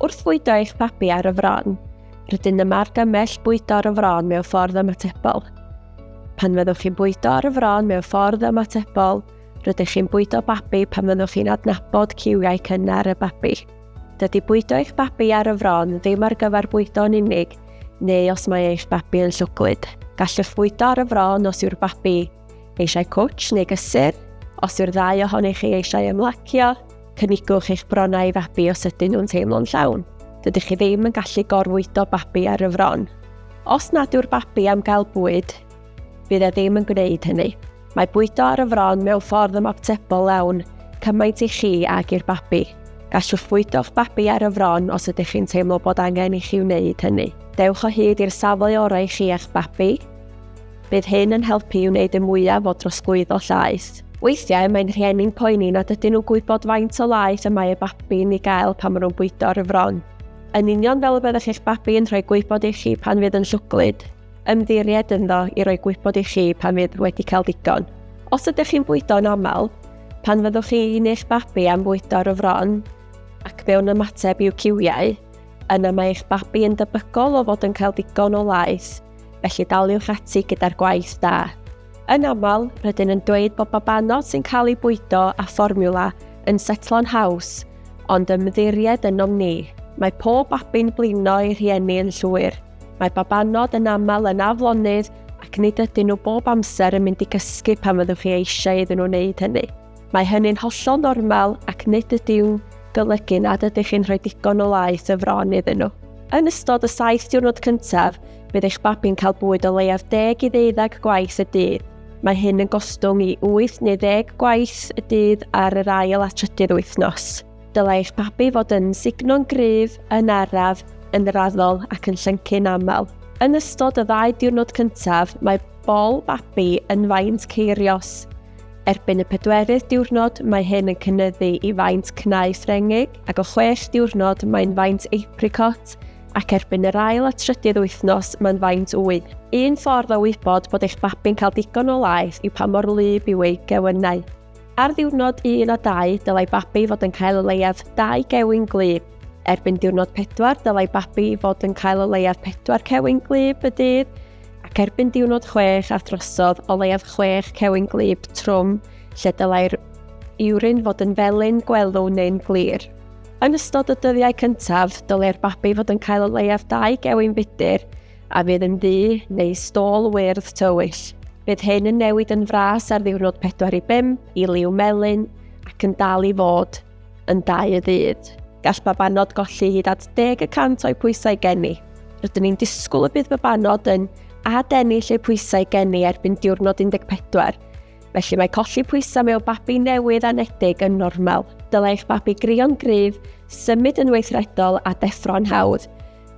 Wrth fwydo eich babi ar y fron, rydyn yma ar gymell bwydo ar y fron mewn ffordd ymatebol. Pan fyddwch chi'n bwydo ar y fron mewn ffordd ymatebol, rydych chi'n bwydo babi pan fyddwch chi'n adnabod ciwiau cynnar y babi. Dydy bwydo eich babi ar y fron ddim ar gyfer bwydo yn unig, neu os mae eich babi yn llwglyd. Gallwch fwydo ar y fron os yw'r babi Eisiau cwtsh neu gysur? Os yw'r ddau ohonych chi eisiau ymlacio, cynigwch eich bronnau i fabi os ydyn nhw'n teimlo'n llawn. Dydych chi ddim yn gallu gorfwydo babi ar y fron. Os nad yw'r babi am gael bwyd, bydd e ddim yn gwneud hynny. Mae bwydo ar y fron mewn ffordd ymatebol lawn, cymaint i chi ag i'r babi. Gallwch fwydo'ch babi ar y fron os ydych chi'n teimlo bod angen i chi wneud hynny. Dewch o hyd i'r safle orau i chi a'ch babi. Bydd hyn yn helpu i wneud y mwyaf o drosglwyddo llaeth. Weithiau mae'n rhieni'n poeni nad ydyn nhw'n gwybod faint o laeth y mae eu babi'n ei gael pan maen nhw'n bwydo ar y fron. Yn union fel y byddech chi'ch babi yn rhoi gwybod i chi pan fydd yn llwglyd, ymddiried ynddo i roi gwybod i chi pan fydd wedi cael digon. Os ydych chi'n bwydo yn aml, pan fyddwch chi neu'ch babi am fwydo ar y fron ac mewn ymateb i'w ciwiau, yna mae eich babi yn debygol o fod yn cael digon o laeth. felly daliwch ati gyda'r gwaith da. Yn aml, rydyn yn dweud bod babanod sy'n cael ei bwydo a fformiwla yn setlo'n haws, ond ymddiried ynom ni. Mae pob babi'n blino ei rhieni yn llwyr. Mae babanod yn aml yn aflonydd ac nid ydyn nhw bob amser yn mynd i gysgu pan fyddwch chi eisiau iddyn nhw wneud hynny. Mae hynny'n hollol normal ac nid ydyw'n golygu nad ydych chi'n rhoi digon o laeth o fron iddyn nhw. Yn ystod y saith diwrnod cyntaf, bydd eich babi'n cael bwyd o leiaf 10 i ddeuddeg gwaith y dydd. Mae hyn yn gostwng i 8 neu 10 gwaith y dydd ar yr ail a trydydd wythnos. Dylai eich babi fod yn signo'n gryf, yn araf, yn raddol ac yn llyncu'n aml. Yn ystod y ddau diwrnod cyntaf, mae bol babi yn faint ceirios. Erbyn y pedwerydd diwrnod mae hyn yn cynnyddu i faint cnau Ffrengig ac o chwech diwrnod mae'n faint apricot ac erbyn yr ail a trydydd wythnos mae'n faint wy. Un ffordd o wybod bod eich babi'n cael digon o laeth yw pa mor wlyb yw ei gewynnau. Ar ddiwrnod 1 a 2 dylai babi fod yn cael o leiaf 2 gewyn gwlyb. Erbyn diwrnod 4 dylai babi fod yn cael o leiaf 4 cewyn gwlyb y dydd ac erbyn diwrnod chwech a throsodd o leiaf chwech cewyn glib trwm lle dylai'r iwrin fod yn felyn, gwelw neu'n glir. Yn ystod y dyddiau cyntaf, dylai'r babi fod yn cael o leiaf dau gewyn fudur a fydd yn ddu neu stôl wyrdd tywyll. Bydd hyn yn newid yn fras ar ddiwrnod 4 i 5 i liw melyn ac yn dal i fod Yn dau y ddydd, gall babanod golli hyd at 10 y cant o'i pwysau geni. Rydyn ni'n disgwyl y bydd babanod yn adennill eu pwysau geni erbyn diwrnod 14, felly mae colli pwysau mewn babi newydd anedig yn normal. Dylai eich babi grio'n gryf, symud yn weithredol a deffro'n hawdd.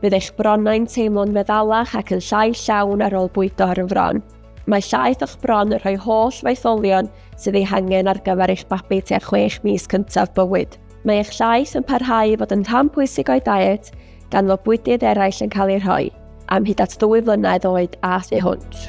Bydd eich bronnau'n teimlo'n feddalach ac yn llai llawn ar ôl bwydo ar y fron. Mae llaeth o'ch bron yn rhoi holl faetholion sydd ei hangen ar gyfer eich babi tua chwech mis cyntaf bywyd. Mae eich llaeth yn parhau i fod yn rhan pwysig o'i diet, gan fod bwydydd eraill yn cael eu rhoi, am hyd at ddwy flynedd oed a thu hwnt.